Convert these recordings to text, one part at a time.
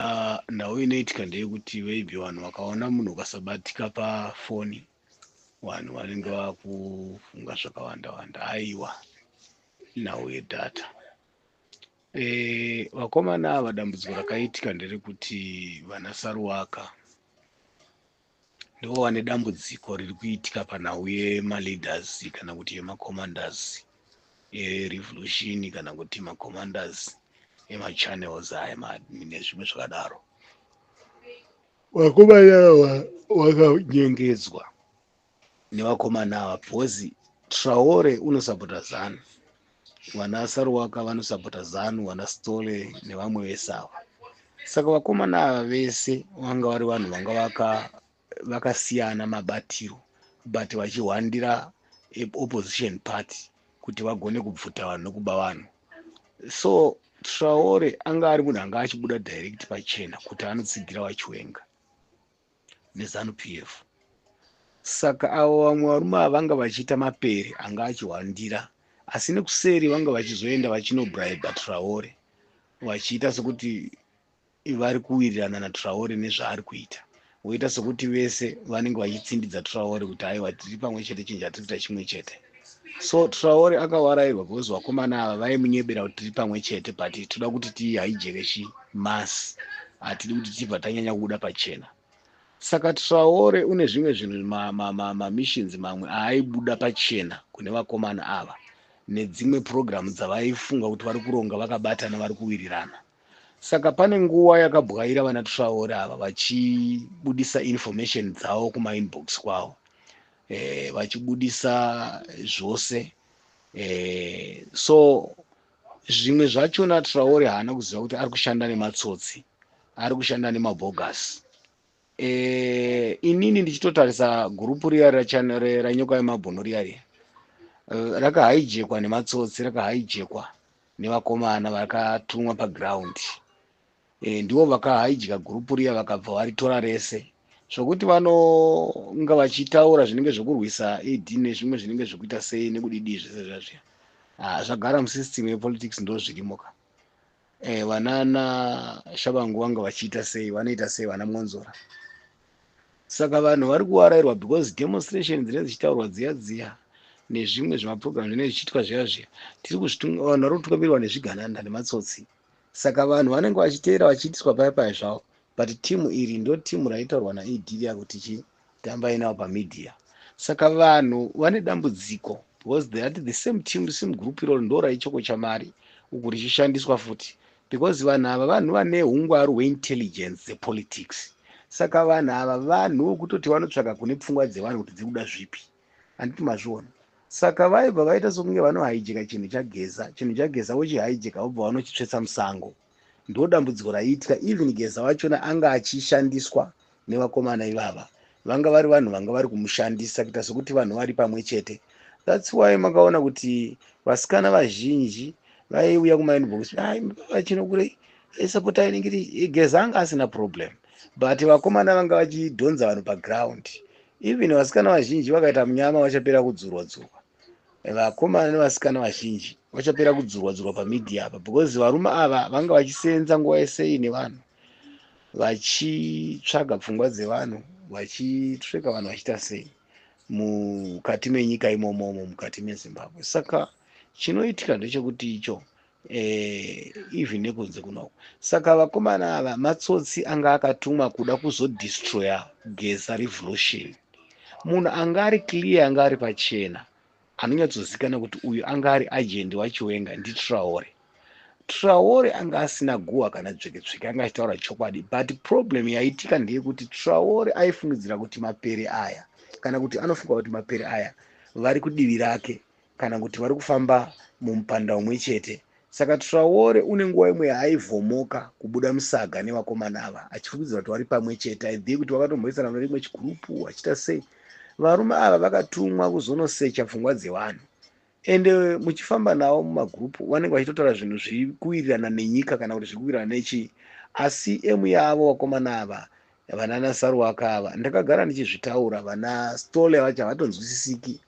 Uh, nhau inoitika ndeyekuti maybe vanhu vakaona munhu ukasabatika pafoni vanhu vanenge vakufunga zvakawanda wanda aiwa nhau yedhata e, vakomana ava dambudziko rakaitika nderekuti vana saruwaka Ndova nedambudziko riri kuitika panhau yemaleaders kana kuti yemacommanders erevolution kana kuti macommanders emachannels aya nezvimwe zvakadaro vakomana vakanyengedzwa nevakomana ava because traore unosapota zanu vana saruwaka vanosapota zanu vana stole nevamwe vese ava saka vakomana ava vese vanga vari vanhu vanga vakasiyana mabatiro but vachihwandira opposition party kuti vagone kubvuta vanhu nokuba vanhu so traore anga ari munhu anga achibuda direct pachena kuti anotsigira vachiwenga neZanu-PF. Saka avo vamwe varume ava vanga vachiita mapere anga achihwandira asi nekuseri vanga vachizoenda vachinobraiba Traore vachiita sekuti vari kuwirirana naTraore nezvaari kuita voita sekuti vese vanenge vachitsindidza Traore kuti aiwa tiri pamwe chete chinja tiri kuita chimwe chete. so traore akawarairwa because vakomana ava vaimunyebera kuti tiri pamwe chete but toda kuti tihaijekeshi mas hatidi kuti tibva tanyanya kubuda pachena saka traore une zvimwe zvinhu mamissions ma, ma, ma mamwe aaibuda pachena kune vakomana ava nedzimwe purogiramu dzavaifunga kuti vari kuronga vakabatana vari kuwirirana saka pane nguva yakabwaira vana traore ava vachibudisa information dzavo kumainbox kwavo eh, vachibudisa zvose eh, so zvimwe zvachona traore haana kuziva kuti ari kushanda nematsotsi ari kushanda nemabogus eh, inini ndichitotarisa gurupu riya ranyoka yemabhunu riya riya eh, rakahaijekwa nematsotsi rakahaijekwa nevakomana vakatumwa paground e, ndivo vakahaidya gurupu riya vakabva varitora rese zvokuti vanonga vachitaura zvinenge zvekurwisa ed nezvimwe zvinenge zvekuita sei nekudidii zvese zvazviya ah, zvagara musystem yepolitics ndo zvirimo ka e, eh, vanana shabangu vanga vachiita sei vanoita sei vana mwonzora saka vanhu vari kuwarairwa because demonstration dzinenge dzichitaurwa dziya dziya nezvimwe zvemaprogram zvinenge zvichiitwa zviya zviya tiri vanhu vari kutungamirwa nezvigananda nematsotsi Saka vanhu vanenge vachiteera vachiitiswa paya paya zvavo but team iri ndo team raitaurwa naED riya kuti chi tambai navo pamedia. Saka vanhu vane dambudziko because they at the same team sim group iroro ndo raichokocha mari uku richishandiswa futi because vanhu ava vanhu vane hungwaru hweintelligence dzepolitics. Saka vanhu ava vanhu vokutoti vanotsvaga kune pfungwa dzevanhu kuti dziri kuda zvipi. handiti mazviona saka vaibva vaita sokunge vanohaijeka chinhu chageza chinhu chageza vochihaijeka vobva vanochitsvetsa musango ndo dambudziko raiitika even geza wachona anga achishandiswa nevakomana ivava vanga vari vanhu vanga vari kumushandisa kuita sokuti vanhu vari pamwe chete thats why makaona kuti vasikana vazhinji vaiuya kumainbox vachinokurei esapotai nengeti geza anga asina problem but vakomana vanga vachidhonza vanhu paground even vasikana vazhinji vakaita munyama vachapera kudzurwa dzurwa vakomana nevasikana vazhinji vachapera kudzurwa dzurwa pamedia apa because varume ava vanga vachiseenza nguva yesei nevanhu vachitsvaga pfungwa dzevanhu vachitreka vanhu vachiita sei mukati menyika imomomo mukati mezimbabwe saka chinoitika ndechekuti icho eh, even nekunze kunoko saka vakomana ava matsotsi anga akatumwa kuda kuzodestroya geza revolution munhu anga ari clear anga ari pachena anonyatsozikana kuti uyu anga ari agent wachiwenga nditraore traore anga asina guhwa kana dzveketsveke anga achitaura chokwadi but problem yaitika ndeyekuti traore aifungidzira kuti mapere aya kana kuti anofunga kuti mapere aya vari kudivi rake kana kuti vari kufamba mumupanda umwe chete saka traore une nguva imwe yaaivomoka kubuda musaga nevakomana ava achifungidzira kuti vari pamwe chete aidhii kuti vakatomhoisana mune rimwe chigurupu achiita sei varume ava vakatumwa kuzonosecha pfungwa dzevanhu ende muchifamba navo mumagurupu vanenge vachitotaura zvinhu zviri kuwirirana nenyika kana kuti zviri kuwirirana nechii asi emu yavo vakomana ava vanana saruwaka ava ndakagara ndichizvitaura vana stole vacho havatonzwisisiki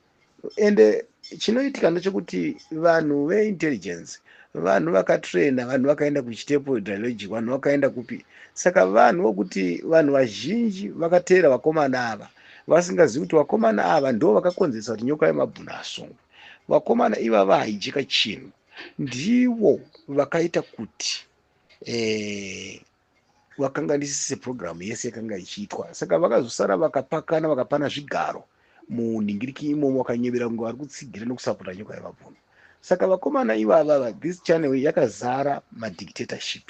ende chinoitika ndechekuti vanhu veintelligence vanhu vakatraina vanhu vakaenda kuchitepo dialogic vanhu vakaenda kupi saka vanhu vokuti vanhu vazhinji vakateera vakomana ava vasingazivi kuti vakomana ava ndo vakakonzeresa kuti nyoka yemabhuna asungwe vakomana ivava haijika chinhu ndivo vakaita kuti eh, vakanganisise program yese yakanga ichiitwa saka vakazosara vakapakana vakapana zvigaro munhingiriki imomo vakanyevera kunge vari kutsigira nekusapota nyoka yevabvuni saka vakomana ivavava this channel yakazara madictatorship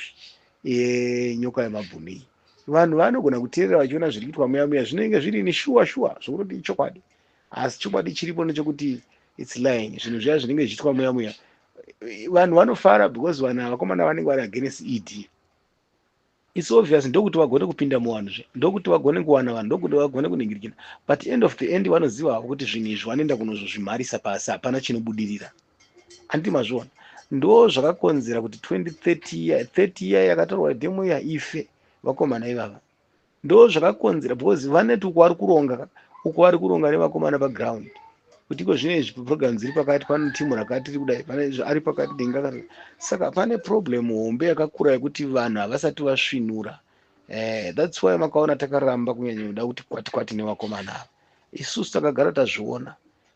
enyoka yemabvuni iyi vanhu vanogona kuteerera vachiona zviri kuitwa muya muya zvinenge zviri ni shuwa shuwa zvokunoti ichokwadi asi chokwadi chiripo nechokuti its lying zvinhu zviya zvinenge zvichiitwa muya muya vanhu vanofara because vanhu vakomana vanenge vari against ed its obvious ndokuti vagone kupinda muvanhu zve ndokuti vagone kuwana vanhu ndokuti vagone kuningirikina but end of the end vanoziva havo kuti zvinhu izvi vanoenda kunozozvimharisa pasi hapana chinobudirira anditi mazviona ndo zvakakonzera kuti 2030 year 30 year yakatorwa demo iya ife vakomana ivava ndo zvakakonzera because vaneti uko vari kuronga uko vari kuronga nevakomana paground kuti iko zvino izvi program dziri pakati pano timu rakati tiri kudai pane izvi ari pakati denga kana saka pane problem hombe yakakura yekuti vanhu havasati vasvinura eh, thats why makaona takaramba kunyanya kuda kuti kwati kwati nevakomana ava isusu takagara tazviona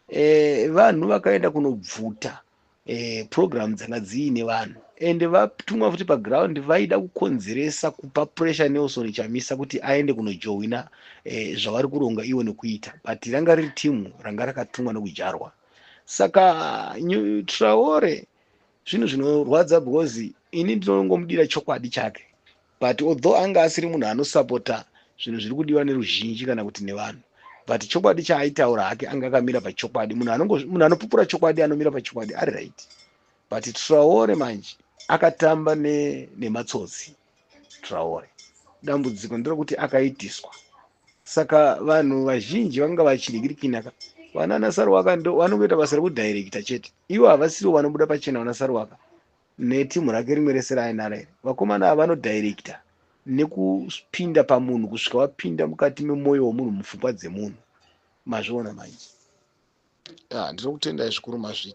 eh, vanhu vakaenda kunobvuta eh, program dzanga dziine vanhu and vatumwa futi paground vaida kukonzeresa kupa pressure nelson chamisa kuti aende kunojohwina eh, zvavari kuronga ivo nekuita but ranga riri timu ranga rakatumwa nekujarwa saka traore zvinhu zvinorwadza because ini ndinongomudira chokwadi chake But although anga asiri munhu anosapota zvinhu zviri kudiwa neruzhinji kana kuti nevanhu but chokwadi chaaitaura hake anga akamira pachokwadi munhu munhu anopupura chokwadi anomira pachokwadi ari right but traore manje akatamba nematsotsi ne traore dambudziko nderokuti akaitiswa saka vanhu vazhinji vanga vachidikirikinaka vanana saruwaka ndo vanongoita basa rekudirecta chete ivo havasiriwo vanobuda pachena vana saruwaka neteam rake rimwe rese raainaro here vakomana ava vanodirector nekupinda pamunhu kusvika vapinda mukati memoyo wemunhu mupfungwa dzemunhu mazviona manje ah, ndinokutendai zvikuru mazvita